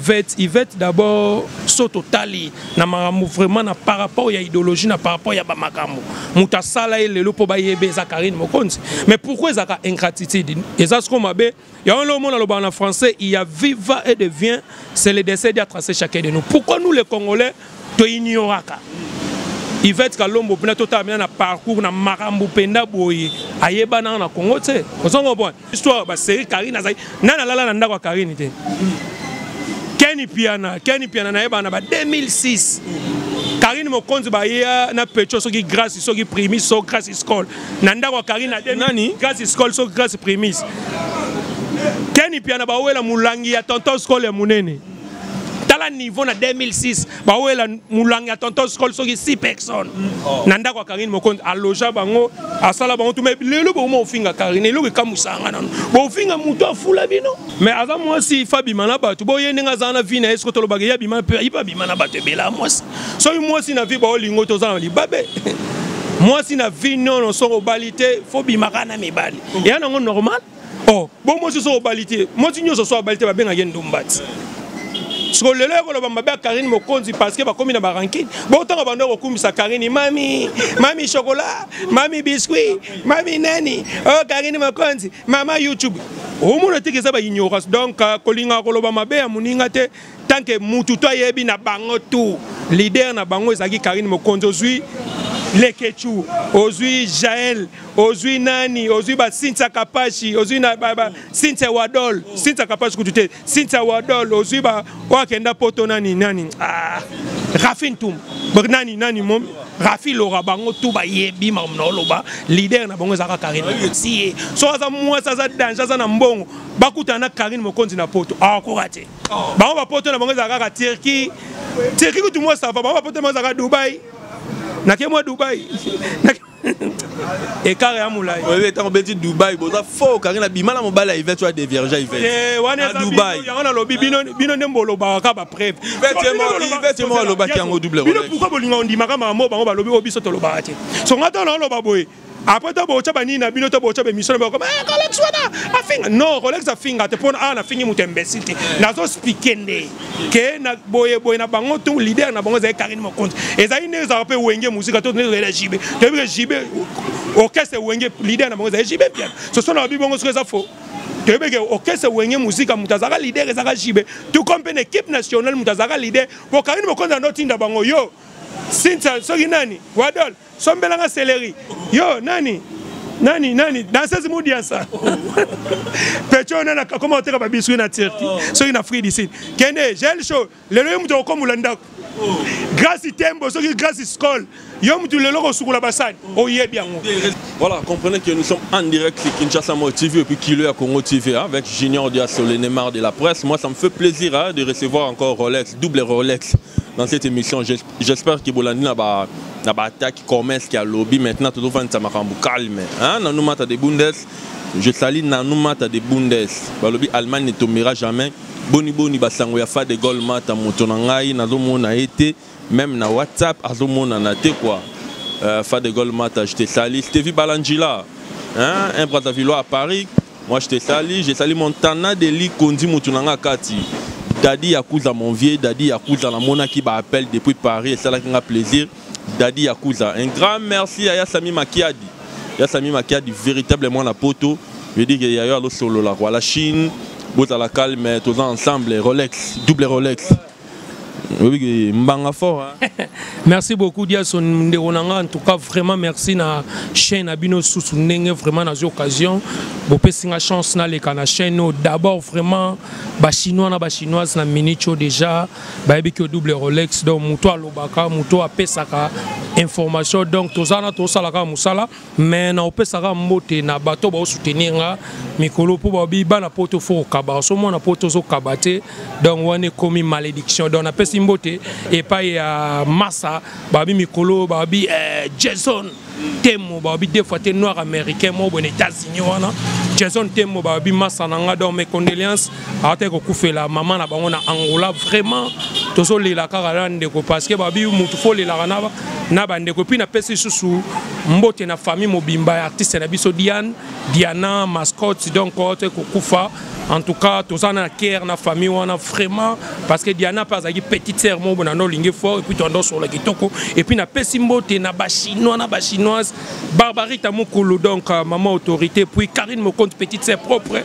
Yvette, Yvette d'abord soto tali na makambo vraiment na par rapport ya idéologie na par rapport ya ba makambo mutasala ye lelo po ba yebe za Karine Mokonzi mais pourquoi ezaka ingratitude eza ce qu'on m'appelle Yango lelo omona lobaka na français il y a viva et de vient c'est le décès dia tracé chacun de nous. Pourquoi nous les Congolais to ignoraka? Yvette Kalombo pena to tamina na parcours na makambo penda boye ayebana na Congo tse. Ozongo bon. Histoire ba série Karine azali nana lala na ndako ya Karine te. Kenny Piana, Kenny Piana nayebana ba 2006. Karine Mokonzi baya na Pecho soki grâce soki primi so grâce scole. na ndako ya Karine na nani Grace Skol so Grace Primis Kenny Piana bawela mulangi ya tonton Skol ya munene tala niveau na 2006 bawela mulangi ya tonton Skol soki 6 personnes oh. na ndako ya Karine Mokonzi aloja bango asala bango tume lelo bokoma ofinga Karine eloko ekamusanga nano bofinga moto afula bino mais aza mwasi fa bima na bato boye ndenge aza na vie na ye soki tolobaka ye abima mpe ayiba abima na bato ebela mwasi soki mwasi na vie baolingo te oza na libabe mwasi na vie nono soki obali te fo bimaka na mibali eya nango normal o oh, bo mwasi soki obali te mwasi nyonso soki abali te babengaki ndumbati siko lelo ekoloba mabe ya karine mokonzi parceke bakomi na barankine botanga bando kokumisa karine mami mami chokola mami biscuit mami nani o oh, karine mokonzi mama youtube omona teke eza baignorance donc euh, kolingaka koloba mabe ya moninga te tanke mutu to ayebi na bango tu lider na bango ezalaki karine mokonzi ozwi lekechu ozwi jael ozwi nani ozwi basintia kapashi ozwi na basintia wadol sintia kapashi kutu te Cynthia Wadol ozui ba oyo akenda poto nani nani ah, Rafi Ntum nani nani mom Rafi Lora bango tout ba yebi mam na oloba leader na bango ezaka Karine si so aza mwasi aza danger aza na mbongo bakutana na Karine mokonzi na poto akoka ah, te oh. bango ba poto na bango ezaka kaka Turquie Turquie kutu mwasi ava bango ba poto na bango ezaka Dubaï nake mwa Dubaï ekara ya molai oyebi ntango obeti dubai boza fo okangi na bima na mobali ya ivete oya devierge ivete eh, wana yango nalobi bino nde bolobaka kaka bapreve ivete moko alobaki yango double bino pourkoi bolinga ondimaka mamo bango balobi oyo biso tolobaka te so ngai ntango naoloba boye après to bootya banini na bino to bootya bemission na bakoma eh, rolex wana afinga non rolex afinga te mpona awa ah, nafingi moto ya mbesi te nazospike nde ke na boye boye na bango to leader na bango ezali Karine Mokonzi ezali nde ezalaka mpe wenge mosika to nde ezali ya jibe toyebi ke jibe orchestre wenge leader na bango ezali jibe mpiana soso na babi bongo soki eza faux toyebi ke orchestre wenge mosika moto azalaka leader ezalaka jibe tout comme mpe na équipe nationale moto azalaka leader po Karine Mokonzi ando tinda bango yo sinsa soki nani wadol sombela nga celery yo nani nani nani danseuse mudiansa pecho nani akoma koteka babiswi na turki oh. soki na free dicid kende gel show lelo ye moto akokombola ndako oh. grâce tembo soki grâce scol yo motu lelo kosukola basani oyebi yango voilà comprenez que nous sommes en direct sur Kinshasa Moi TV et puis Kilo à Congo TV hein, avec Junior Diasso le Neymar de la presse moi ça me fait plaisir hein, de recevoir encore Rolex double Rolex dans cette émission j'espère que bolandi na ba na ba attaque commerce qui a lobby maintenant tout fan ça makambu calme hein na numata de bundes je salis na numata de bundes ba lobby allemagne ne tombera jamais boni boni ba sango ya fa de gol mata moto na ngai nazo mona été même na whatsapp azo mona na te quoi euh, fa de gol mata je te salis je te vis balanjila hein un brazzavillois à paris Moi je te sali, je sali Montana Deli Kondi mutu na nga kati. Daddy Yakuza mon vieux, Daddy Yakuza na mona ki ba appel depuis Paris, ça la nga plaisir. Daddy Yakuza, un grand merci à Yasami Makiadi. Yasami Makiadi véritablement na poto. Je dis que yayo alo solo la quoi la Chine. Bozala calme, tous ensemble Rolex, double Rolex. oyoki mbanga fort hein? merci beaucoup diason ndeko na nga en tout cas vraiment merci na chaîne na bino susu ndenge vraiment nazi occasion bopesi nga chance naleka na chaîne oyo d'abord vraiment bachinois na bachinoise na minute oyo déjà bayebi ki double rolex donc moto alobaka moto apesaka information donc toza na tosalaka mosala me naopesaka mbote na bato baosoutenir nga mikolo mpo babi bana poto fo okaba so mwana poto ozokaba te donc wana ekomi malédiction donc napesi mbote epai ya masa babi mikolo babi eh, jason temo babi deux fois te noir américain moko boye na états-unis wana jason temo babi masa na nga donc mes condoléances awataki kokufela mama na bango na angola vraiment tozolela kaka na ndeko parceke babi motu fo olelaka na bandeko epuis napesi lisusu mbote na famille mobimba ya artiste na biso diane diana mascotte donc awataki kokufa en tout cas toza na care na famille wana vraiment parce que diana mpe azalaki petite sœur moko na nde olingi fort epuis toanda osola kitoko epuis napesi mbote na bachinois na bachinoise Barbarita Mukulu, donc euh, maman autorité, puis Karine Mokonte, petite sœur propre,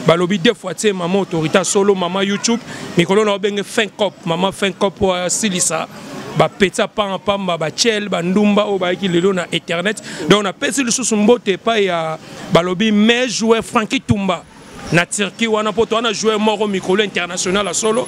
balobi deux fois, tu sais, maman autorité, solo, maman YouTube, mais quand on a bien fin cop, maman fin cop, euh, silisa, bapesa panga pamba bachel bandumba oyo bayaki lelo na internet donc napesi lisusu mbote epai ya balobi mai joueur franki tumba na Turquie wana poto wana joueur moko mikolo international ya solo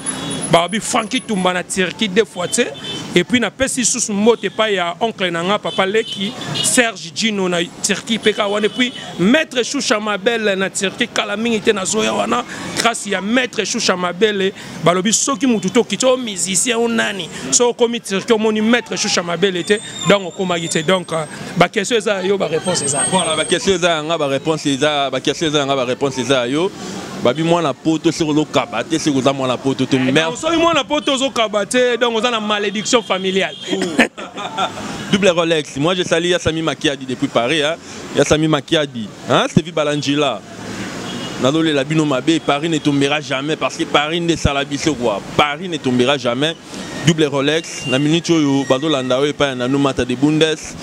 babi Franki Tumba na Turquie deux fois tse et puis na pesi sous mbote pa ya oncle na nga papa Leki Serge Gino na Turquie peka wana et puis maître Choucha Mabel na Turquie kala mingi te na zoya wana grâce ya maître Choucha Mabel balobi soki mutu to kiti o musicien o nani so okomi tirki omoni maître shusha mabele te donc okomaki te donc euh, baquestion eza ya yo baréponse eza voilà baquestion eza yanga baréponse eza baquestion eza yanga baréponse eza ya yo babi mwana poto soki ozokaba te soki oza mwana poto te eh, soki mwana poto ozokaba te donc oza na malédiction familiale double rolex moi je sali ya sami makiadi depuis paris hein? ya sami makiadi hein? stevi balangila nazolela bino mabe paris ne tombera jamais parce que paris nde esala biso kua paris ne tombera jamais double rolex na minute oyo bazolanda oyo epai ya nanu mata de bundes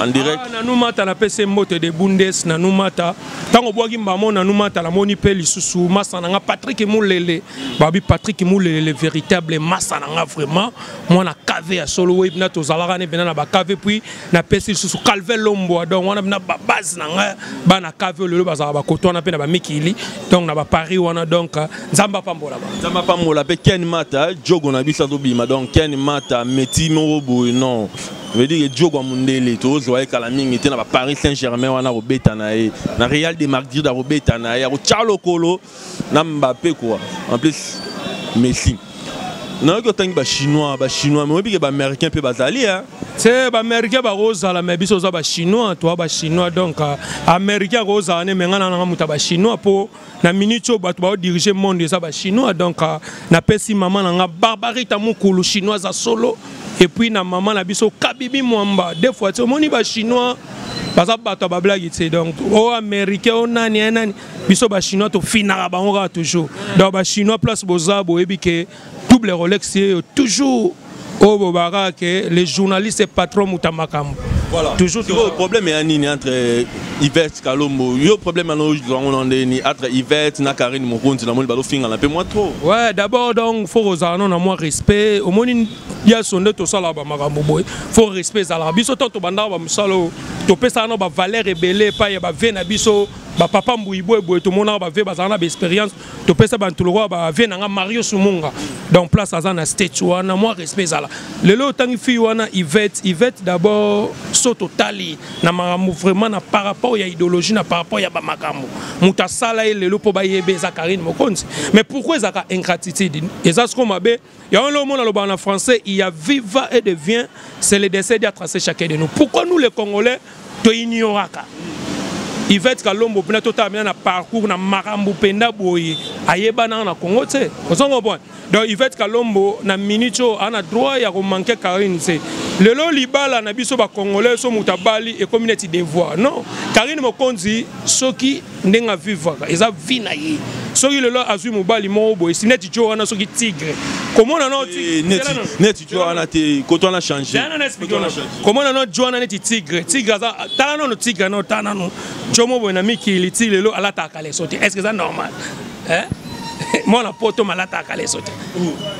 en direct ah, nanu mata napesi mbote de bundes nanu mata ntango obwaki mbamo nanu mata namoni mpe lisusu masa na nga patrik mulele babi patrik mulele le véritable masa na nga vraiment mwana kave ya solo webina tozalaka ne bena na bakave puis na pesi lisusu calve lombwa donc wana na base na ngai bana cave lelo bazalaka bakoto wana mpe na bamikili donc na baparis wana donc nzambe apambola ba nzambe apambola mpe ken mata jogo na biso azobima donc ken mata meti moko boye non veut dire jogo ya mondele tozwa ye kala mingi te na baparis saint germain wana akobeta na ye na real de madrid akobeta na ye akotya lokolo na mbappe quoi en plus messi nayoki otangi bachinois bachinois me oyebi ke baaméricain mpe bazali hein? se baaméricain bakozala me biso oza bachinois toa bachinois donc euh, américain akozala ne menga nananga moto ya bachinois mpo na minute oyo bato baodirige monde eza bachinois donc euh, napesi mama na nga barbarita mokulu chinois aza solo epuis na mama na biso kabibi mwamba de fois ti omoni bachinois baza bato ya bablagi te donc o oh, américain o oh, nani ya eh, nani biso ba chinois to finaka bango kaka toujours donc ba chinois place boza boyebi ke double rolex yeyo toujours oyo bobaka ke les journalistes patron moto ya makambo voilà. toujours sikoyo problème ya nini entre euh, ivete kalombo yo problème yana ozwa yango na ndeni entre ivete na karine mokonzi namoni balofingana mpe mwa trop ouais d'abord donc faut kozala no na mwa respect omoni biaso nde tosalaka bamakambo boye faut respect ezalaka biso ntango tobandaka bamosala oyo topesaka no bavaleur ebele epai ya bavie na biso ba papa mbuyi boye boye tomonaka ba vie bazala na ba expérience topesa bantu lokola ba vie na nga mario sumunga donc place aza na state wana mwa respect ezala lelo otangi fille wana ivette ivette d'abord so totali na makambo vraiment na par rapport ya idéologie na par rapport ya bamakambo moto asala ye lelo mpo bayebe eza karine mokonzi mais pourquoi ezalaka ingratitude eza siko mabe Yango lelo omona lobaka na français, il y a viva et devient, c'est le décès à tracer chacun de nous. Pourquoi nous les Congolais, to ignoraka Yvette Kalombo pena to tamina na parcours na makambo penda boye ayebana na Congo tse. Ozongo bon. Donc Yvette Kalombo na minute oyo ana droit ya ko manquer Karine tse. Lelo libala na biso ba Congolais so mutabali ekomi neti devoir. Non, Karine Mokonzi soki ndenge avivaka eza vie na ye soki lelo azwi mobali moko boye si neti jo wana soki tigre komona no eh, neti jo wana te koto wana change komona no jo wana neti tigre tigre aza tala nano tigre no tala nano jo mo boye na mikili ti lelo alataka leso te est ce que eza normal eh? mwana poto malataka leso te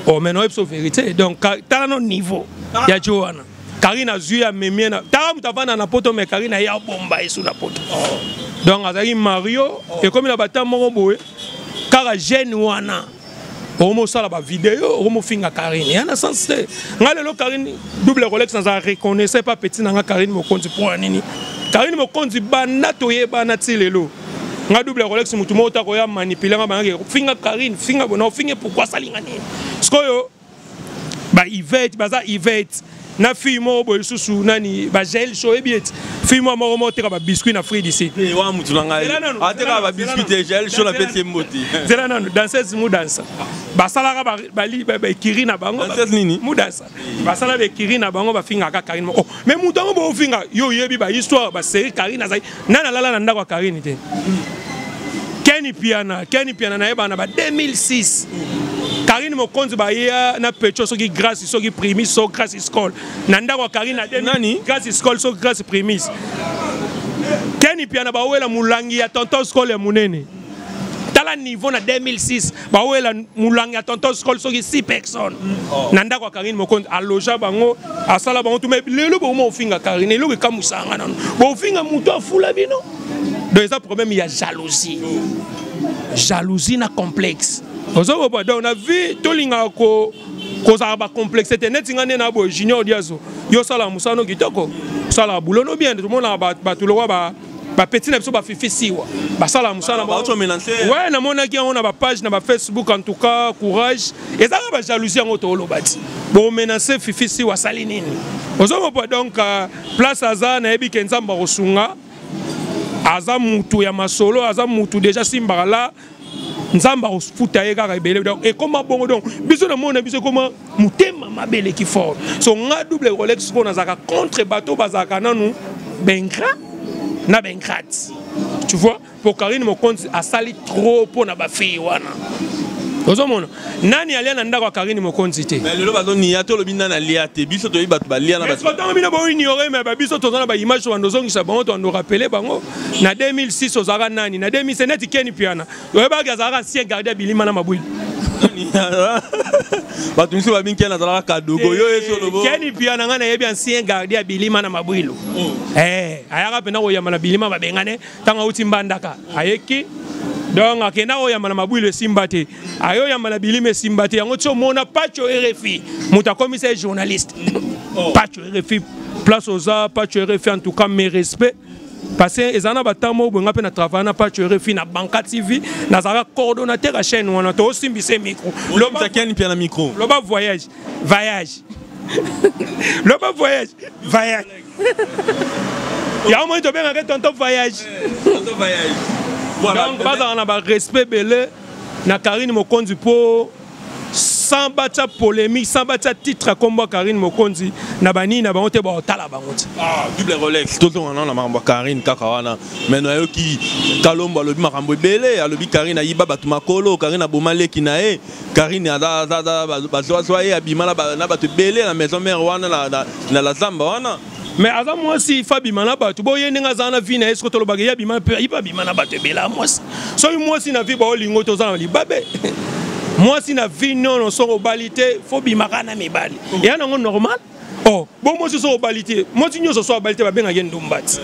o oh, mais noyebisa verité donc tala no niveau ya jo wana Karine azui ya memie na tala moto avanda na poto me Karine aye abomba yesu na poto donc azalaki mario ekomi na bata moko boye kaka jeune wana okomosala bavideo okomofinga karine ya na sens te ngai lelo karine double rolex naza reconnaisse pa petit na ngai karine mokonzi mpo ya nini karine mokonzi banda toyebana ti lelo nga double rolex motu moko ta koya manipule nga bangaki finga karine finga bona ofinge pourkui asalinga nini sikoyo ba Yvette baza Yvette na fille moko boye lisusu nani bagel so oyebi ete fille moko moko moko teka babiscuit na frid ici eh, wana motu na ngai ateka babiscuit te gel so na pesi ye mbote zela nanu danseuse mudansa basalaka baekiri na bango mudansa basala baekiri na bango bafingaka karine moko oh, mais moto yango bofinga yo oyebi bahistoire baserie karine azali nani alala na ndako ya karine te keni piana keni piana nayebana na ba 2006 karine mokonzi baya na pecho soki grace soki primis so grace scol na ndako ya karine na nani grace scol so grace primis keni piana bawela molangi ya tonton scol ya monene tala niveau na 2006 bawela mulangi ya tonton scol soki 6 personnes na ndako ya karine mokonzi aloja bango asala bango tuma lelo bokoma ofinga karine eloko ekamwisaka nga nano bofinga moto afula bino donc eza problème ya jalousie jalousie na complexe ozokoba donc na vie tolingaka ko kozala bacomplexe te neti nga nde na boye junior diazo yo osalaka mosala no kitoko osalaka bulo no bien tomonaka bato lokwa bapeti na biso bafifi siwa basala mosala we namonaki yango na bapage na bafacebook en tout cas courage eza kaka bajalousie yango tooloba ti bomenase fifi siwa asali nini ozomopa donc euh, place aza nayebi ke nzambe akosunga aza mutu ya masolo aza mutu deja simbaka la nzambe akofuta ye kaka ebele donc ekoma bongo donc biso na mona biso ekoma motema mabe eleki fort so nga double rolex sikoyo nazalaka contre bato bazalaka nanu bengra na bengrate tu vois po karine mokonzi asali trop mpo na bafille wana ozomona nani alia na ndako ya karine mokonzi te mais lelo bazoniya to olobi nani alia te biso toyebi bato balia na ntango bino boignore me babiso toza na baimage to bando ozongisa bango to bando orapele bango na 2006 ozalaka nani na 2007 neti keni piana oyebaki azalaka ancien gardia bilima na mabwili bato misusu babingi keni azalaka kadogo yo yesu eh, olobo keni piana ngai nayebi ancien gardia bilima na mabwilo oh. eh, ayaka mpenza koyamba na bilima babengane ntango auti mbandaka ayeki donc akenda oyamba na mabwilo esimba te ayo yamba na bilima esimba te yango ti omona pacho rfi moto akomisa ye journaliste oh. pacho rfi place oza pacho rfi en tout cas mes respect parce que eza na batemp moko boye nga mpe na travaille na pacho rfi na banka tv nazalaka coordonnateur ya chaîne wana toosimbise micro loba voyage voyage loba voyage voyage yango moi tobengaka tonton voyage eh, donc bazala na barespect ebele na Karine Mokonzi po sans batya polémique sans batya titre ya nkombo ya karine mokonzi na banini na bango te baotala bango ti ah, double rolex tozonga nao na makambo ya karine kaka wana mai nayoki kalombo alobi makambo ebele alobi karine ayiba bato makolo karine aboma leki na ye karine bazwazwa ye abima na bato ebele na maison mare wana na lazamba wana mais aza mwasi fa bima na bato boye ndenge azala na vie na ye soki tolobaka ye abima mpe ipe abima na bato ebela mwasi soki mwasi na vie baolingo toza na libabe mwasi na vie nono soki obali te fo bimaka na mibali eya nango normal o oh, bo mwasi soki obali te mwasi nyonso soki abali te babengaka ye ndumbati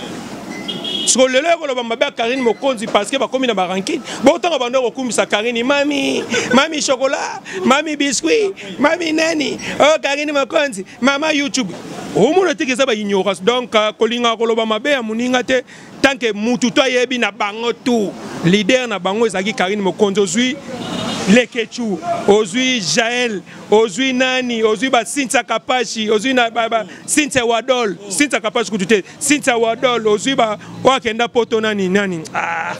siko lelo ya koloba mabe ya karine mokonzi parceke bakomi na barankine botanga bando kokumisa karine mami mami chokola mami biscuit mami nani o oh, karine mokonzi mama youtube omona teke eza baignorance donc euh, kolingaka koloba mabe ya moninga te tanke mutu to ayebi na bango tu lider na bango ezalaki karine mokonzi ozwi lekechu ozwi jael ozwi nani ozwi basintia kapashi ozwi na basintia wadol sintia kapashi kutu te Cynthia Wadol ozui ba oyo akenda poto nani nani ah,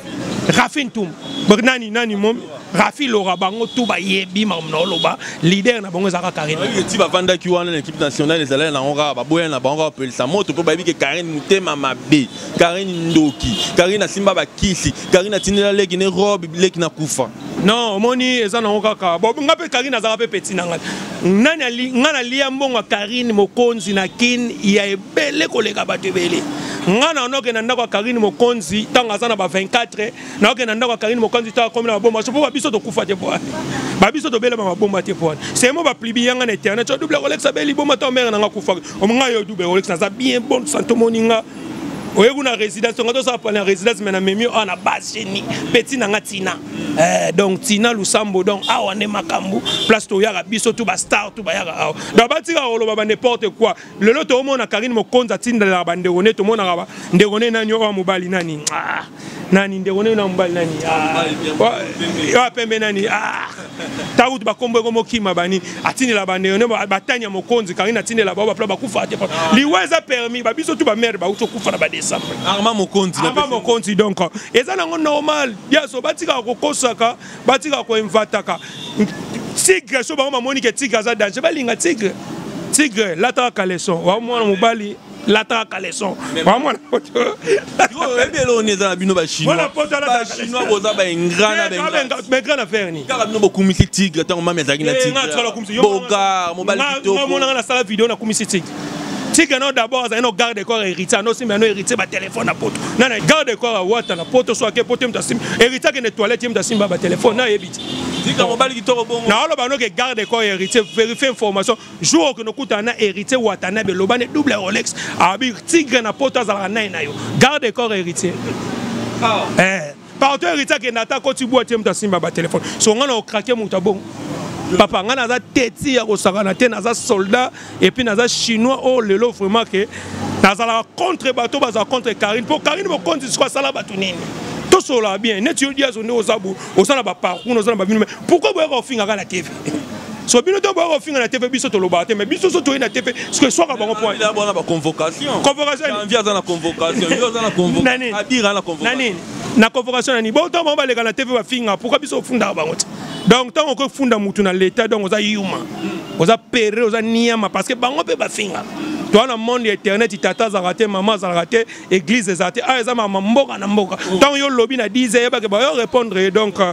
Rafi Ntum nani nani mom Rafi Lora bango tout ba yebi mam na oloba leader na bango ezaka Karine oui ti ba vanda ki wana l'équipe nationale ezala na ngora ba boya na bango pelisa moto po ba yebi ke Karine mutema mabe Karine ndoki Karine asimba ba kisi Karine atinela leki ne robe leki na kufa non omoni eza nango kaka bo nga mpe karine azalaka mpe peti na ngai nani nga nalia mbongo ya karine mokonzi na kin ya, ebele koleka bato ebele nga na noke na ndako ya karine mokonzi ntango aza na ba 24 naoke na ndako ya karine mokonzi ntango akomi na mabomba so mpo babiso tokufa te mpo wana babiso tobelama mabomba te mpo wana semo baplibi yanga na internet o double kolekisa be liboma ntango mere nanga kufaka omonga yo double kolekisa aza bien bonne santo moni nga oye kuna résidence tonga tosala pona résidence me na memi awa na base geni peti na nga tina eh, donc tina lusambo donc awa nde makambo place toyaka biso tu bastar tu bayaka awa donc batika koloba ba n'importe quoi lelo toomona karine mokonzi atindela bandeko nde tomonaka ndeko ne nani oyo mobali nani ah, nani ndeko ne na mobali nani ah, oyo ah, pembe nani ntango kutu bakombo eko mokima bani atindela bandeko ne batani ya mokonzi karine atindela bao bapla bakufa te liwa eza permis babiso tu bamere bauti okufa na badecembre arma mokonzi donc eza nango normal yaso batikaka kokosaka batika koinvataka tigre so bango bamoni ke tigre aza danger balinga tigre tigre lataka kaleson wa mwana mobali lataka kaleson wa mwana oyebi eloko nini eza na bino bachinoisbachinois boza baingra na bengra na faire nini kaka bino bokumisi tigre ntango mami azalaki na tigre bogar mobali kitokomonaka nasala video nakumisi tigre tika no d'abord azali no garde corps ya héritier ano simba no héritier batelefone na poto nana garde corps awata na poto so ake poto ye moto asimba héritier akende toilette ye moto asimba batelefone nayebi ti naoloba noke garde corps ya héritier verifie information jour okende okutana na héritier watanabe elobani double rolex abi tigre na poto azalaka nai na yo garde corps héritier ah. eh. pardon héritier akenda ata akoti bwati ye moto asimba batelefone so ngai na okrake moto abongo papa ngai naza teti ya kosakana te naza soldat epuis naza chinois oyo oh, lelo vraiment ke nazalaka contre bato bazala contre karine mpo karine mokonzi siko asala bato nini tosolola bien neti yo diazo nde oza bo oza na baparcour oza na babino pourkoi boyaka ofingaka na tv so bino to boya kofinga na tv biso tolobaka te mais biso so toyei na tv soki eswaka bango pointbona baconvocation convocationvi aza na convocation yo aza na convocation abira na convocation na convocation na nini bo ntango bango baleka na tv bafinga pourkui biso ofundaka bango te donc ntango okoki funda motu na leta donc oza yuma hmm. oza pere oza niama parce que bango mpe bafinga toa na monde ya internet tata azalaka te mama azalaka te église eza te awa ah, eza mama mboka na mboka ntango oh. yo olobi na 10 eyebake bayo répondre ye donc euh,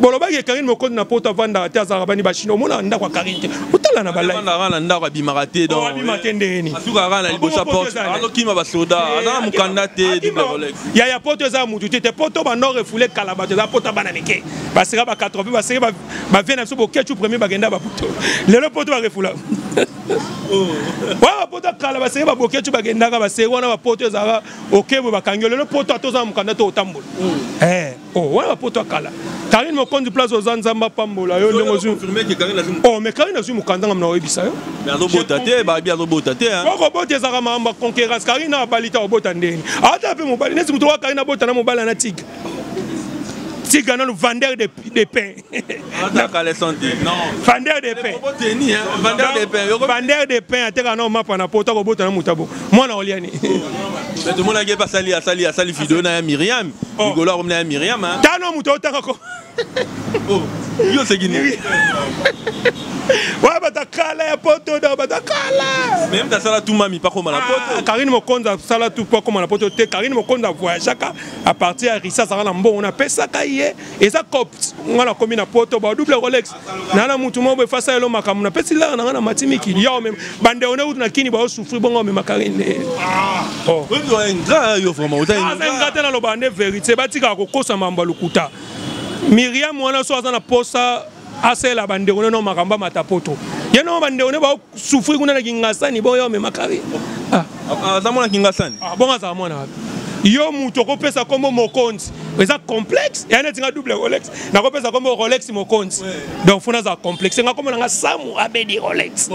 bolobaki ye karine mokonzi na poto avandaka te azalaka bani bachino omonaka ndako ya karine te otala na balaiandaka na ndako abimaka te oh, abima te ndeni asukaka kaka na liboso ya porte azokima basoda eh, aza na mokanda te ya ya poto eza motu te te poto banor efule kala bato eza poto bana mike baseka ba 80 baseki bavie na biso bokecu premier bakenda bapoto lelo poto barefula oh. wana bapoto ya kala baseki babokecu bakendaka baseki wana bapoto ezalaka okebwe bakangi lelo poto atoza na mokanda to otambola hmm. eh. Oh, wana bapoto ya kala karine mokonzi place oza nzambe apambola yo ndenge ozwi oh, mais karine azwi mokanda ngam na oyebisa yo azobota te babi azobota te okobota ezalaka makambo ya conquérance karine na abali ta obota ndeni ata mpe mobali neti moto oka karine abota na mobali na tiga tiga nanu vendeur de pain na caleçon te vendeur de pain vendeur de pain ateka na mapa na poto akobota na moto abo mwana olia ni tomonaki epe asali asali asali video na ya miriam oh. ligolo akomi na ya miriam tano moto otanga ko oh, yo oseki nini wa batakala ya poto da batakala meme tasala tu mami pakoma na ah, poto karine mokonzi asala tu pakoma na poto te karine mokonzi avoyageaka apartir ya risa azalaka na mbongo napesaka ye eza copt nga nakomi na poto ba double rolex na na mutu moko efasa yelo makambo na pesi lara na nga na mati mikili yo meme bande one utu na kini ba osufri bongo meme karine ah. oh yo ingra yo vraiment ota ingra ah, ingra tena lo bande verite batika kokosa mambo lukuta Miriam wana so aza na posa asela bande one no makambo mata poto ye no bande one ba souffrir kuna na kingasani boyo omema kari ah. ah, aza mwana kingasani ah, bongo azala mwana wapi yo moto okopesa nkombo mokonzi eza complexe ya neti nga double rolex nakopesa nkombo rolex mokonzi donc funa azala complexe nga nkombo na nga samu abedi rolex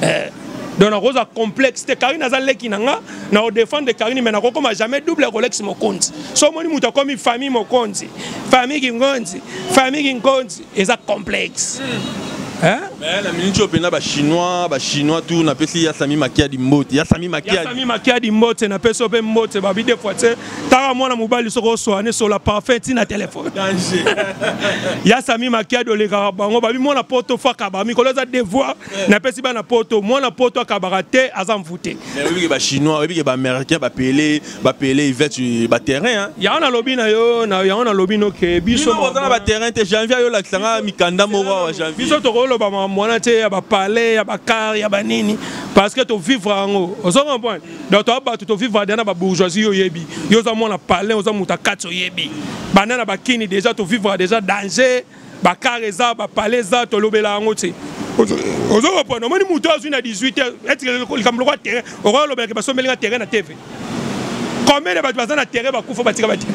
eh. donc nakozwa complexe te karine aza leki na nga na odefendre karine mai nakokoma jamais double rolex mokonzi so omoni moto akomi famille mokonzi famille kingonzi famille kingonzi eza complexe hein mais la minute oyo pena ba chinois ba chinois tout na pesi ya sami makia di mbote ya sami makia ya sami makia di mbote na pesi ope mbote ba bide fois tse tara mwana mobali soko so ane so la parfait ti na téléphone danger ya sami makia do le ka bango ba bi mwana poto fa ka ba mi koloza devoir eh. na pesi ba na poto mwana poto ka ba te azam voûté mais oui ba chinois oui ba américains ba pelé ba pele ivete ba terrain hein yango na lobi na yo na yango na lobi no ke biso boza na ba terrain te janvier yo lakisa nga mikanda moko wa janvier biso toko loba ma mwana te ya ba palais ya ba car ya ba nini parce que to vivre yango ozo comprendre donc to ba to vivre dans ba bourgeoisie yo yebi yo za mwana palais oza muta katso yebi bana na bakini déjà to vivre déjà danger ba car eza ba palais eza tolobela yango te ozo kopona omoni moto azwi na 18 heures eti likambo lokola terrain okoya olobela ke basombeli nga terrain na tv combien de bato baza na terrain bakufa batika bate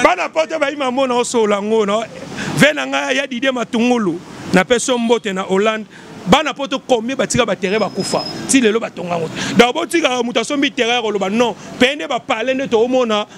bana poto bayima mona osola yango na ve na ngai ya didie matungulu napesi yo mbote na hollande bana poto combien batika baterrain bakufa ti lelo batonga yango donc botikaka moto asombi terrain ya koloba non peye nde bapale nde toomona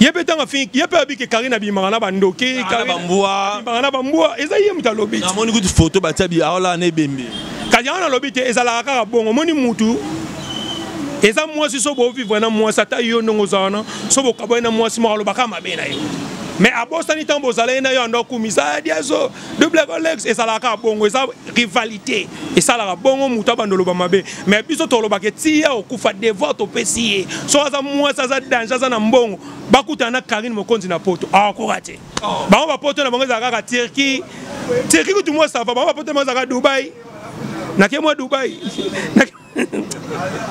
ye mpe ntango afingi ye mpe abi ke karine abimaka na bandoki abimaka na bambwa eza ye moto alobi namoni kutu foto batia biaola na ebembe kasi yango nalobi te ezalaka kaka bongo omoni mutu eza mwasi so bovivre na mwasi ata yo ndongo oza wana so bokabwani na mwasi moko alobaka mabe na yo mais abosani ntango bozalaki na yo ando akumisa adiazo double colex ezalaka kaka bongo eza rivalité esalaka bongo moto abanda oloba mabe mais biso tolobaka etiya okufa devoir topesi ye soki aza mwasi aza danger aza na mbongo bakutana na karine mokonzi na poto akoka ah, te oh. bango bapoto na bango ezalaka kaka turki turki kutu mwa sava bango bapoto na bango ezalaka dubai nake mwa dubai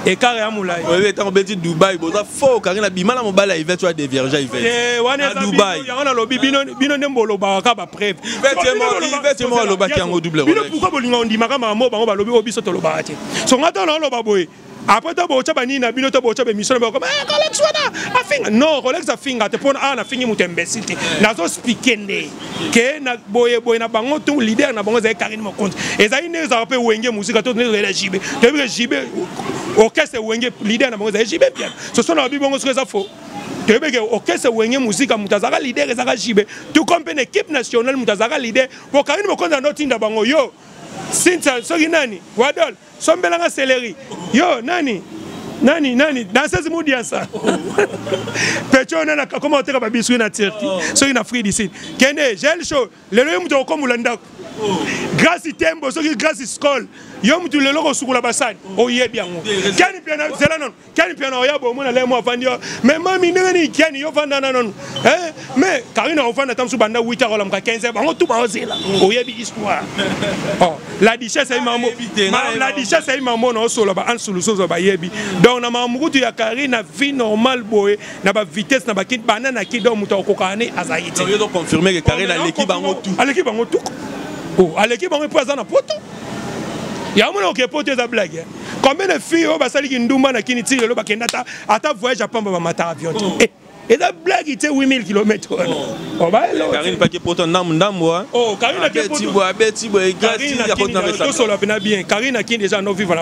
ekara ya molai oyebi ntango obeti dubai boza fo okangi na bima na mobali ya ivete oya deviange ivete wana dubai yango nalobi bino nde bolobaka ka bapreve ivete moko alobaki yango double bino pourkoi bolinga ondimaka makambo bango balobi oyo biso tolobaka te so ngai ntango naoloba boye après to bootya banini na bino to bootya bemisio na bakoma eh, rolex wana afinga non rolex afinga te mpona awa nafingi moto ya mbesi te nazospike nde ke na boye boye na bango to leader na bango ezali Karine Mokonzi ezali nde ezalaka mpe wenge mosika to nde ezali ya jibe toyebi ke jibe orchestre wenge leader na bango ezali jibe bien soso na babi bongo soki eza faux toyebi ke orchestre wenge mosika moto azalaka leader ezalaka jibe tout comme mpe na équipe nationale moto azalaka leader po Karine Mokonzi ando tinda bango yo sinta soki nani wadol sombela nga celery yo nani nani nani danseuse mudiansa pecho nani akoma koteka babiswi na turki oh. soki na free dicid kende gel show lelo ye moto akokombola ndako oh. grâce tembo soki grâce scol yo motu lelo kosukola basani oyebi yango keni mpe zela nono Ken Mpiana oya bomo na lemo afandi yo mais mami ndenge nini Ken yo fanda na nanu eh mais Karina ofanda ta musu banda 8 heures lamuka 15 bango tout ba ozela oyebi histoire oh la duchesse ayi mambo la duchesse ayi mambo na osola ba an suluso zo ba yebi donc na mamukutu ya Karina vie normale boye na ba vitesse na ba kit banana ki donc mutu akoka ne azali te yo donc confirmer que Karina oh, aleki bango tout aleki bango tout oh aleki bango mpo aza na poto yango mona okepoto eza blague combien de filles oyo basali kindumba na kini ti lelo bakenda ata ata voyage ya pamba bamata avion te oh. eh, eza blage te 8000 kilomètre wana oh. oh, karine pake poto ndambu ndambu tosola mpena bien karine akindi eza anovivre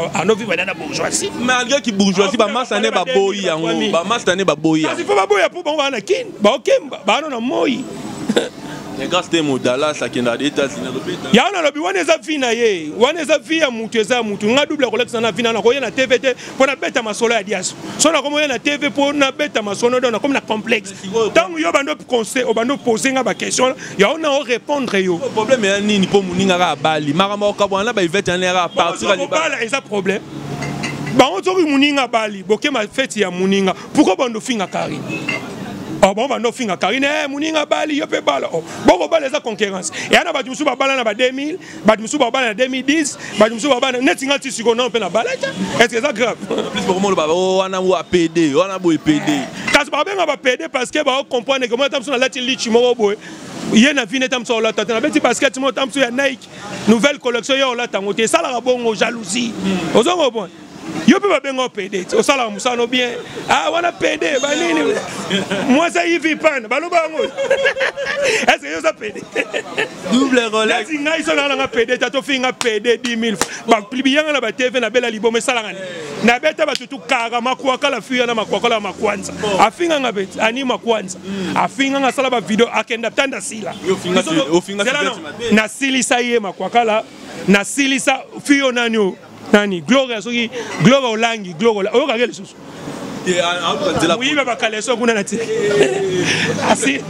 na bourgeoisie malgré ki bourgeoisie bamasa ne baboyi yango bamasa ne baboyi yango baboya mpo bango baa na kini baokemba baano na moi yango nalobi wana eza vi na ye wana eza vi ya mutu eza ya mutu nga double akolakisa na vi na nakoya na tv te mpo nabeta masolo ya diaso so nakomoya na tv mpo nabeta masolo do nakomi na complexe ntango yo obandi conseil obandi opose nga baquestion yango na orépondre yo problème ya nini mpo moninga kaka abali makambo okabwana na baivete yana yaka partir eza problème bango soki moninga abali bokema feti ya moninga pourquoi bando finga carine oh, bango bando finga carine eh, moninga bali yo mpe bala oh, boko bala eza concurrence eya na bato mosusu babala na ba 2000 bato mosusu babala na 2010 bato mosusu babala neti nga ti sikoyo nao mpe na bala te est ce que eza grave plus bokomoloba oh, wana wa pede wana boye pede kasi babenga ba pede parce que bao comprendre ke moi ata mosusu nalati lichi moko boye ye na vine ata mosusu aolata te nabeti basket moko ata mosusu ya nike nouvelle collection ye aolata yango te esalaka bongo jalousie hmm. ozongo bon yo mpe babenga yo pede ti osalaka mosala no bien ah wana pede banini mwasi ayivi pane baloba yango eske yo oza pede double roleti ngai so naa nanga pede ta tofinga pede 10 000 biyanga na batv nabela liboma esalaka ni nabeta bato tu kaka makwakala fiya na makwakala ya makwanza afinganga mpe ani makwanza hmm. afinganga asala bavideo akenda tanda sila nasilisa ye makwakala nasilisa fiyo nani oyo nani gloria soki gloria olangi gloria oyokaki lisusu moyibi ya bakaleso kuna na ti asi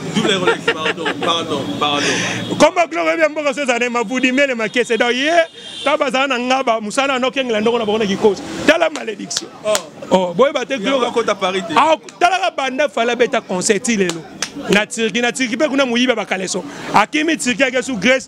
komba gloria oyebi ya mboka so ezala na mabudi mele makese donc ye ta bazala na ngaba mosala yango okengela ndoko na bango na kikosi tala malédiction oh. Oh, boyeba te gloria ah, talaka banda fala abeta concert ti lelo na turki na turki mpe kuna moyibi ya bakaleso akimi turki ake su grèce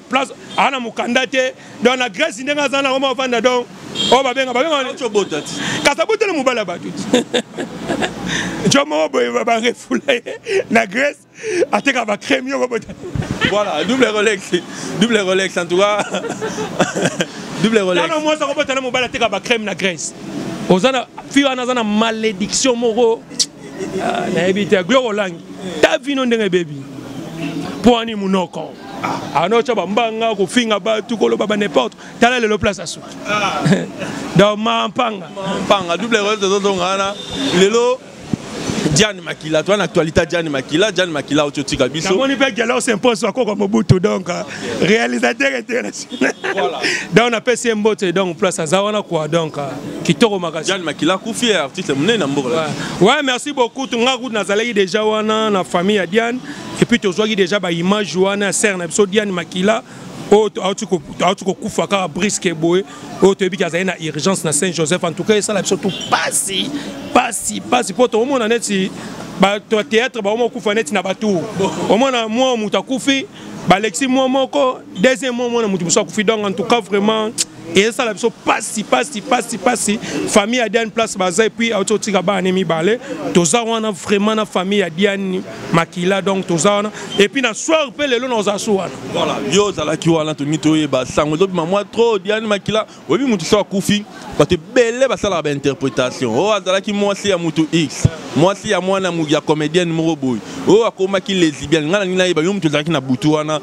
place ana mukanda te donc na grèce ndenge aza nango mwa ofanda donc oyo oh, babenga babengakasabota na mobali ya bato jo moko boye barefula ye na grèce ateka bacrème yoko bota voilà double rolex double rolex en tout cas double rolex tano mwasi akobota na mobali ateka bacrème na grèce oza na fi wana aza na malédiction moko ah, nayebi te aglo olangi ta vino ndenge ebebi mpo ani monoko anotya bambanga kofinga bato koloba ba n'importe tala lelo place asuki ah. donc mampanga mampanga double role tozozonga wana lelo Diane Makila, toi en actualité Diane Makila, Diane Makila au Tiotika Bisso. Comment il peut galer s'impose sur quoi comme Mobutu donc euh, réalisateur international. Voilà. Donc on appelle c'est Mbote donc place à Zawana quoi donc euh, kitoko makasi. Diane Makila kufi artiste mnene na mboka. Ouais, merci beaucoup. Tunga kuna nazalaki déjà wana na famille ya Diane. et puis tozwaki déjà ba image wana ya sere na biso diane makila oyo auti kokufa kaka briske boye oyo toyebi ki azali na urgence na saint joseph en tout cas esala biso tu pasi pasi pasi mpo tokomona neti bato ya théâtre baoma okufa neti na batour omona mwa moto akufi balexi mwa moko deuxième mwa mwana moto mosusu akufi donc en tout cas vraiment ezosala biso pasi pasi pasi pasi famille ya diane place baza epuis auti otika bana ne mibale toza wana vraiment na famille ya diane makila donc toza wana epuis na soir mpe lelo naoza so wana voilà yo ozalaki wana tolingi toyeba sango ezobima mwa trop diane makila oyebi motu so akufi bato ebele basalaka bainterprétation oyo oh, azalaki mwasi ya motu x mwasi ya mwana ya comédienne moko boye oyo oh, akomaki lesibiane ngai nalingi nayeba yo motu ozalaki na butu wana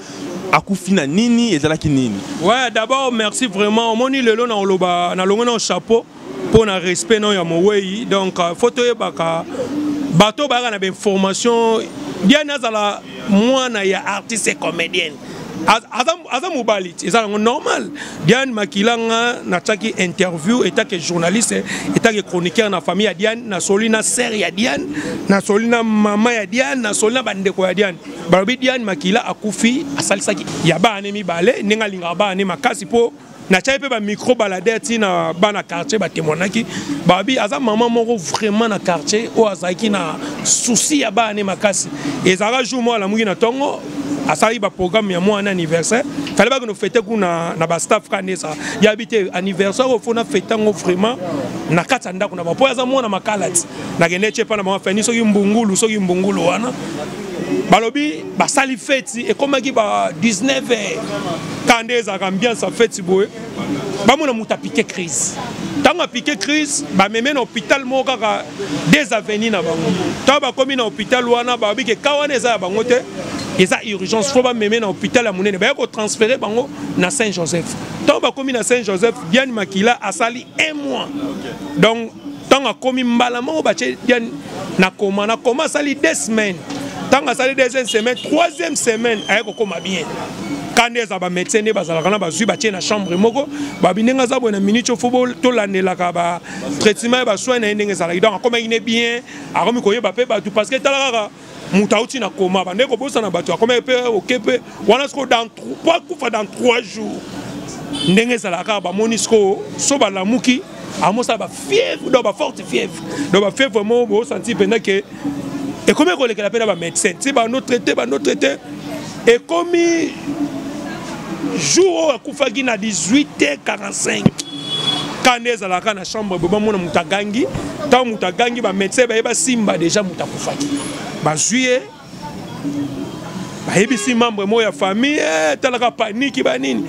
akufi na nini ezalaki nini ouais d'abord merci vraiment omoni lelo na oloba na longo na chapeau mpo na respect na ya mowei donc euh, faut toyebaka bato bayaka na bainformation bien azala mwana ya artiste comédienne aza mobali eza yango normal diane makilanga natiaki interview etake journaliste etake chroniqueur na famille ya diane nasoli na sere ya diane nasoli na mama ya diane nasoli na bandeko ya diane balobi diane makila akufi asalisaki ya baane mibale ndenge alingaka baane makasi mpo natyaki mpe bamicro balade ti na bana quartier batemoinaki babi aza mama moko vraiment na quartier oyo azalaki na souci ya baane makasi ezalaka jour moko alamuki na ntongo asalaki baprogramme ya mwana anniversaire fale bakende fete kuna na bastaff ka nde eza yabi te anniversaire oyo fona fete yango vraiment na kati ya ndako na bango mpo aza mwana makalati nakende tye mpa na bango fani soki mbungulu soki mbungulu wana balobi basali feti ekomaki ba 19 heures kaka nde ezalaka ambiance ya feti boye bamona moto apike crise ntango apike crise bameme na hôpital moko kaka des aveni na bango ntango bakomi na hôpital wana bayobi ke ka wana eza ya bango te eza urgence fo bameme na hôpital ya monene baye kotransfere bango na saint joseph ntango bakomi na saint joseph diane makila asali un mois donc ntango akomi mbala moko batye diane na koma na koma asali deux semaines ntango asali deuxième semaine troisième semaine aye kokoma bien ka nde eza bamédecin nde bazalaka na bazwi batye na chambre moko babi ndenge aza boye na minute ofo tolandelaka batraitement ya basoin na ye ndenge ezalaki donc akomaki ne bien akomi koyeba mpe bato parce que tala kaka moto auti na koma bande kobosana bato akomaki mpe oke mpe wana siko po akufa dans 3 jours ndenge ezalaka kaka bamoni siko so balamuki amosala bafièvre donc baforte fièvre donc bafièvre mo bosanti mpenza ke ekomi kolekela mpe na bamédecin ti bano traité bano traité ekomi jour oyo akufaki na 18h45 kanda ezalaka na chambre boye bamona moto agangi ntango moto agangi bamédecin baye basimba deja moto akufaki bazwi ye bayebisi membre moko ya famille eh, talaka paniki banini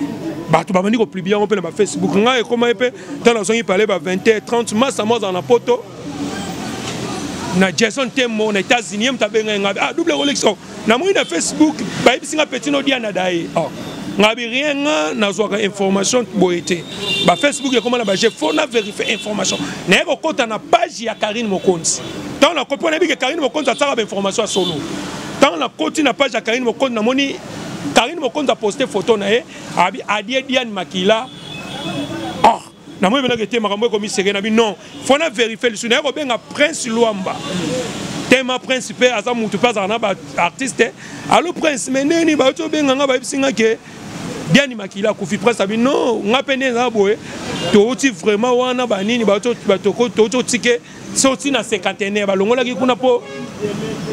bato babandi kopublie yango mpe na bafacebook ngai ekomaki mpe ntango nazongi pale ba 20 30 masa mwa azala na poto na jason tembo na états-unis ye moto abengai ngai ah double kolekisa namoni na facebook bayebisi nga petino diana daye oh. nga bi rien nga nazwaka information boye te bafacebook ekoma na baje fo na verifie information naye kokɔta na page ya karine mokonzi ntango nakopi wana yebike karine mokonzi asalaka bainformation ya solo ntango nakoti na page ya karine mokonzi namoni karine mokonzi aposte foto na ye abi adie diane makila na moi ebelaki te makambo ekomiseke na bi non fo na verifie lisusu naye kobenga prince lwamba tema prince mpe aza motu mpe azalaka na baartiste alo prince me ndenge nini bauti obenga nga bayebisi nga ke diani makila akufi prince abi non nga mpe nde eza boye touti vraiment wana banini touti otike so ti na cinquantenaire balongolaki kuna mpo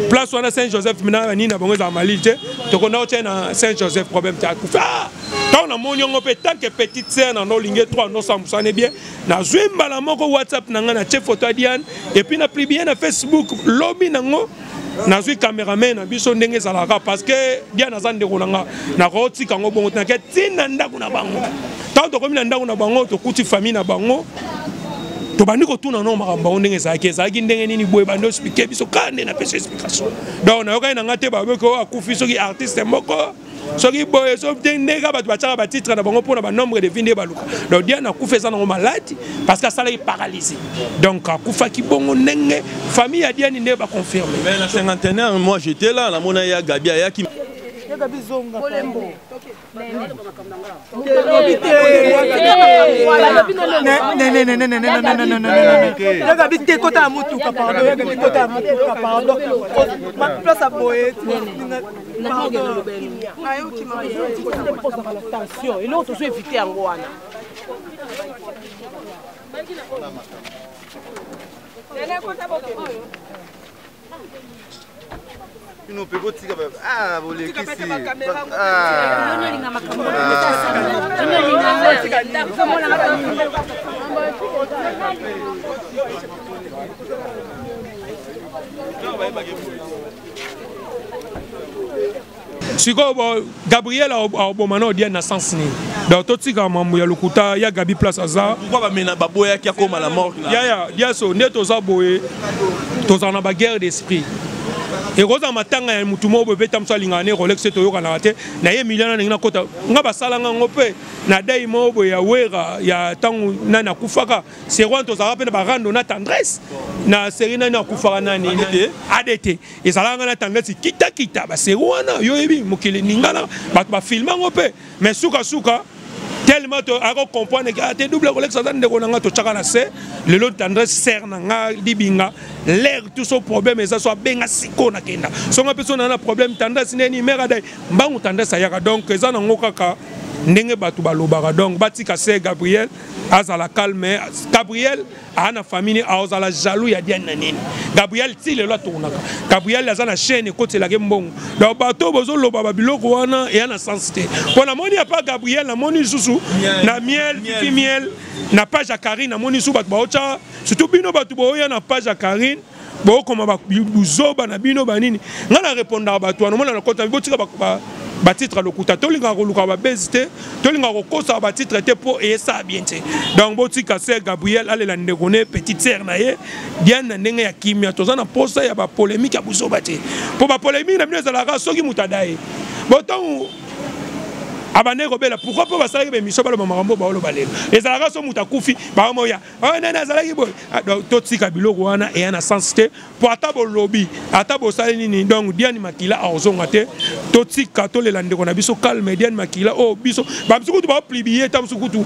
place wana saint joseph mina banini na bango ezala malili te tokonda otya na saint joseph problème te akufa ah! ntango namoni yango mpe tanke petite sere na nolingi etwa nosambusane bien nazwi mbala moko whatsapp na ngai na tie foto ya diane epuis na publie na facebook lobi nango nazwi cameraman na biso ndenge ezalaka parce que dia naza ndeko na nga nakotika yango bongo tinake ntina ndako na bango ntango tokomi na ndako na bango tokuti famille na bango tobandi kotuna no makambo bango ndenge ezalaki ezalaki ndenge nini boye bandi ospike biso kaka nde napesa explication donc nayokani na ngai te baboki oyo akufi soki artiste moko soki boye so te nde kaka bato batiaka batitre na bango mpo na banombre de vie nde baluka donc diane akufa eza nango maladi parce que asalaki paralyse donc akufaki bongo ndenge famille ya diane nde baconfirme mais na cinquantenaire moi j'étais là namona ya gabi ayaki yaga bi te kota ya motuka pardon yaga bi kota ya motuka pardon place ya boye tension eloko tozo evite yango wana Nene kota boke oyo bino mpe botika ah, bolekisi sikoyo gabriel aoboma na odiane na sens nini donc totika mambo ya lokuta ya gabi place aza baboyaki akoma la mort yaya diaso nde toza boye tozala na baguerre d'esprit ekozala matanga ya motu moko boye mpe ta mosu alingaka ne rolex te toyokanaka te na ye miliana ndenge nakota nga basalanga yango mpe na dai moko boye ya wera ya ntango nani akufaka serwan tozalaka mpe na barando na tendresse na seri nani akufaka nani adt ezalaka nga na tendance kitakita baseri wana yo oyebi mokili ningana bato bafilme yango mpe mais sukasuka tellement akokomprendre ke ate double kolekisa aza ndeko na ngai totyaka na se lelo tendresse ser na ngai libinga lere tout so problème eza so abenga siko nakenda so ngai mpe so naa na problème tendresse neni mare adai mbangu tendresse ayaka donc eza nango kaka ndenge bato balobaka donc batika se gabriel azala calme gabriel aa na famille nini aozala jaloux ya diane na nini gabriel ti lelo atournaka gabriel aza na chaîne ekotelaka ye mbongo donc bato oyo bozoloba babiloko wana eya na sens te mpo namoni apa gabriel namoni lisusu na miel ti miel na page ya carine namoni lisusu bato baotya surtout bino bato booya na page ya carine bokoma buzoba na bino banini ngai na repondaka bato wana omona na kota botika batitre ya lokuta tolingaka koluka babezi te tolingaka kokosaka batitre te mpo eyesala bien te donc botika ser gabriel alela ndeko ne petite ser na ye diane na ndenge ya kimia toza na mposa ya bapolemike ya buzoba te mpo bapolemike na bino ezalaka soki moto adaye botongo abandaki kobela pourkui mpo basalaki bemission baloba makambo baoloba lelo ezalaka so moto akufi baomoya oyo oh, nani azalaki boye ah, totika biloko wana eya na sens te mpo ata bolobi ata bosali nini donc diane makila akozonga te totika tolela ndeko na biso calme diane makila oyo oh, biso bamosu kutu baoplibie ta mosu kutu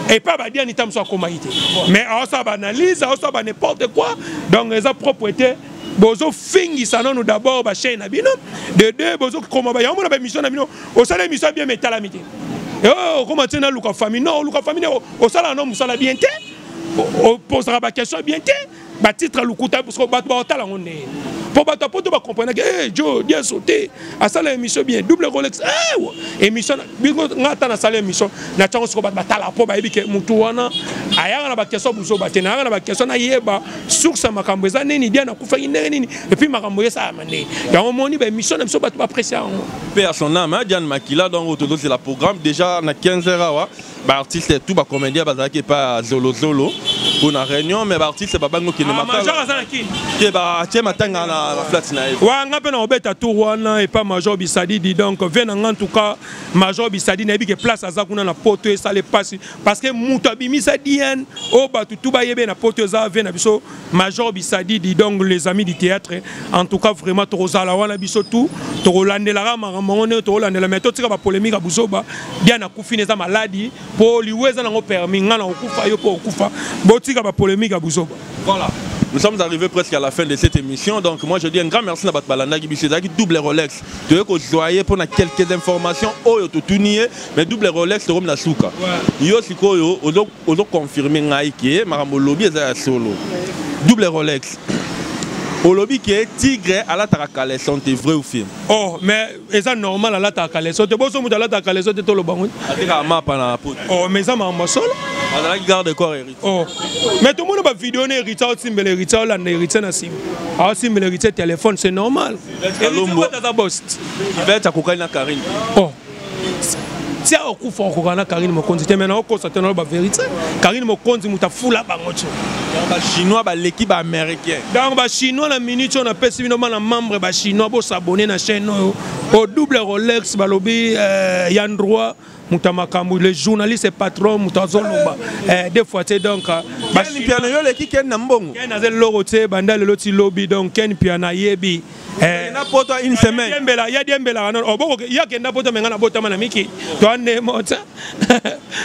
epai badiani ta mosu akomaki te mais aosala baanalyse aosala ba n'importe quoi donc eza propre te bozofingisa nanu d'abord bachaine na bino de deux bozokoma yango mona baémission na bino osala emission bien mais etalami te eh, okoma tie naluka famille non oluka famille osalaka no mosala bien te opozaka baquestion bien te batitre lokuta parceke bato baotala yango nde mpo bato ya poto bacomprenake e eh, jo dieso te asala émission bien double rolex eh, émission bingo nga ata nasala émission na tiango soko bato batala mpo bayebi ke motu wana ayaka na baquestion buzoba te nayaka na baquestion nayeba source ya makambo eza nini dia nakufaki ndenge nini epuis makambo esalama yango omoni ba émission na biso bato ba apprécie yango pe à son âme Diane Makila donc tozozela programme déjà na 15 heures awa ba artistes tout ba comédien bazalaki epa zolozolo mpo na réunion mais ba artistes babangi okende ah, matalae batie matanga na plate na ye wa nga mpe na obeta tour wana epa major bisadidi donc vie na nga en tout cas major bisadidi nayebi ke place aza kuna na poto esala epasi parce que moto abimisa diane oyo bato tu bayebe na poto eza vie na biso Major Bisadi dit donc les amis du théâtre en tout cas vraiment tokozala wana biso tout tokolandelaka makambo yango ndenge tokolandela mais totika bapolémike ya buzoba bia nakufi na eza maladi mpo liwa eza nango permis ngai nakokufa yo mpo okufa botika bapolémike ya buzoba voilà Nous sommes arrivés presque à la fin de cette émission. Donc moi je dis un grand merci à Batbalanda qui Zaki double Rolex. Tu veux qu'on soit pour quelques informations. Oh, yo tout mais double Rolex, tu as souka. Yo, c'est quoi yo? Donc ozo confirmer ngai ke makambo olobi eza ya solo double rolex olobi ke tigre alataka caleçon te vrai ou faux oh mais eza normal alataka caleçon te boso moto alataka caleçon te toloba ngo atekaka mapa na poto oh mais eza makambo ya solo azalaki garde corps héritier oh mais tomoni bavideo na héritier aosimbela héritier aolanda héritier na nsima aosimbela héritier téléphone c'est normal héritier aza bost ivete akokani na karine oh tia okufa okoka na karine mokonzi te mai naokosa te naloba verité karine mokonzi moto afula bango tio bachinois baleki baaméricain donc bachinois na minute oyo napesi bino bana membre bachinois bosabone na chaîne oyo o double rolex balobi euh, ya ndroit moto ya makambo le journaliste patron moto azoloba eh, de fois te donc euh, piano yo oleki ken na mbongo ken aza eloko te banda lelo ti lobi donc ken piano ayebi Eh, na poto une semaine yembela ya diembela wana oboko oh, ya kenda poto menga na botama na miki toande mota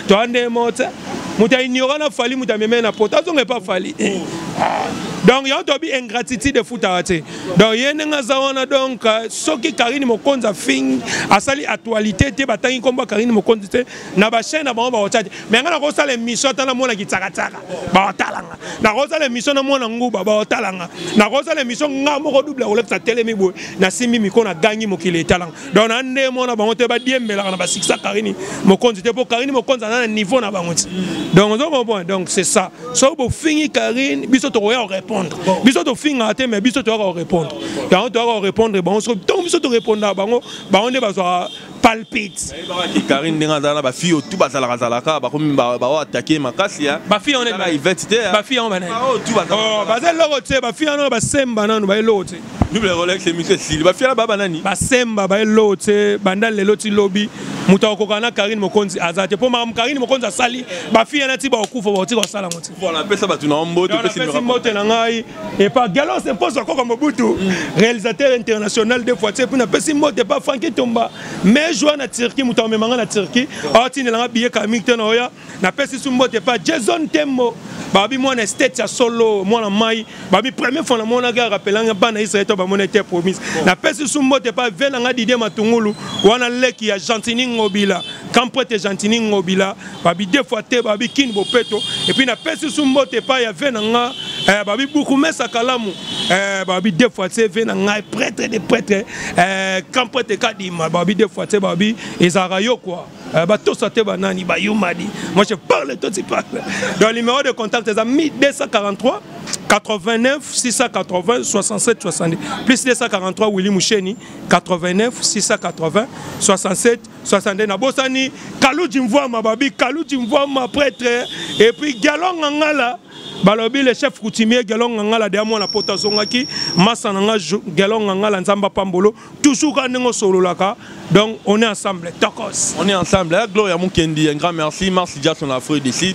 toande mota moto aignora na fali moto amemei na poto azonga epa fali eh. donc yango tobi ingratitude efutaka te donc ye ndenge aza wana donc euh, soki karine mokonzi afingi asali actualité te batangi nkombo ya karine mokonzi te na bachaine na bango bakotia te me ngai nakosala émission ata na mwana kitsakatsaka bakotalanga nakosala émission na mwana nguba bakotalanga nakosala émission ngai moko double akolekisa telemi boye nasimbi miko na gangi mokili etalanga donc na nde mwana bango te badiembelaka na basikisa karini mokonzi te mpo karini mokonzi aza na niveau na bango ti donc ozo comprendre donc c'est ça soki bofingi karine biso tokoya korépondre biso tofingaka te mais biso toyaka korépondre yango toyaka korépondre bango soki ntango biso torépondaka bango bango nde bazwaka palpite nayebaka ke karine ndenge azala na bafille otu bazalaka zalaka bakomi bao atake makasi ya bafille yango nani ivete te bafille yango banani oh, baza eloko te bafille yango basemba nanu baye eloko te double rolex emission esili bafille na baba nani basemba baye eloko te banda lelo ti lobi moto akokana na karine mokonzi aza te mpo makambo karine mokonzi asali bafille yana ti bakokufa bakotika kosala yango te apesa bato na yo mbote mbote na ngai Et par Galon c'est pour ça comme Mobutu, réalisateur international de fois, puis na pesi mbote pas Francky Tomba, mais joueur na Turquie, muta me manga na Turquie, ati na billet Camille tena oya, na pesi su mbote pas Jason Tembo, babi moi na state ya solo, moi na mai, babi premier fois na mona ga rappelanga bana Israël to ba mona te promise. Na pesi su mbote pas vela nga Didier Matungulu, wana leki ya Gentini Ngobila, quand prête Gentini Ngobila babi deux fois te babi kini bopeto epuis napesi su mbote epai ya ve na nga eh, babi buku mesa kalamu eh, babi deux fois te ve na ngai prêtre de prêtre eh, camp prêtre kadima babi deux fois te babi ezalaka yo kua eh, batosa te banani bayumadi moi je parle toi tu parle donc numéro de contact eza 1243 89 680 67 70 plus 243 Willy Moucheni 89 680 67 62 nabosani kaluji mvuama babi kaluji mvuama prêtre et puis galonga ngala balobi le chef coutumier gelon ngangala deya mwana poto azongaki masa na nga gelon ngangala nzambe apambolo toujours ka ndenge osololaka donc on est ensemble tokos on est ensemble eh, gloria mukendi un grand merci merci jason afro d'ici